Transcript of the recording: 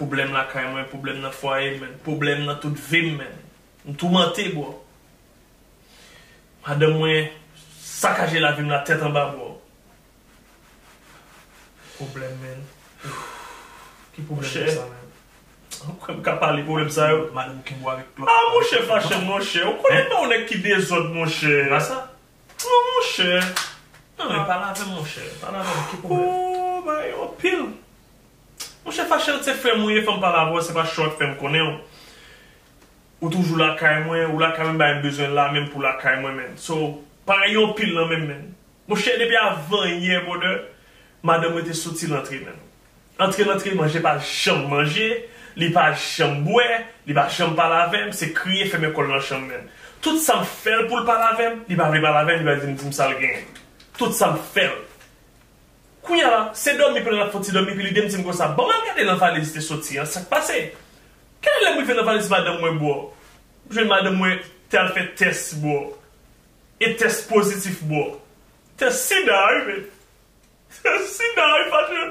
Pwoblèm lakay mwen, pwoblèm nan fwaye m menn, pwoblèm nan tout vi m menn. M toumante bro. Madanm mwen sakaje lavi m la tèt anba bro. Pwoblèm menn. Ki pwoblèm sa menn? Ou kwè m ka pale pwoblèm sa yo? Madanm ou kenbe w avèk lòt. Ah monchè fache m monchè. Ou konnen m pa yon nèg ki dezòd monchè. Se pa sa? Non monchè. Non men pale avè m monchè. Pale avè m ki pwoblèm? Ooh bagay yo anpil. Monchè Fachel se frèm ou ye fòm pale avèw se pa short fèm konnenw ou toujou lakay mwen ou lakay mwen bay m bezwen la menm pou lakay mwen menn so pa gen yon pil nan menm menn monchè depi avan yè brother madanm mwen te soti lantre menn antre lantre manje pa janm manje li pa janm bwè li pa janm pale avèm se kriye fèmen kòl nan chanm menn tout sam fèl poul pale avèm li pa vle pale avèm li pa vle dim dim sal genyen tout sam fèl. Kounya se dòmi pou l al ap fon ti dòmi epi li dem di m konsa, ban m al gade nan valiz li te soti an, sa k pase? Kay lè m rive nan valiz madanm mwen bro, m jwenn madanm mwen te al fè tès bro, e tès pozitif bro. Tès sida wi men, tès sida wi facheu.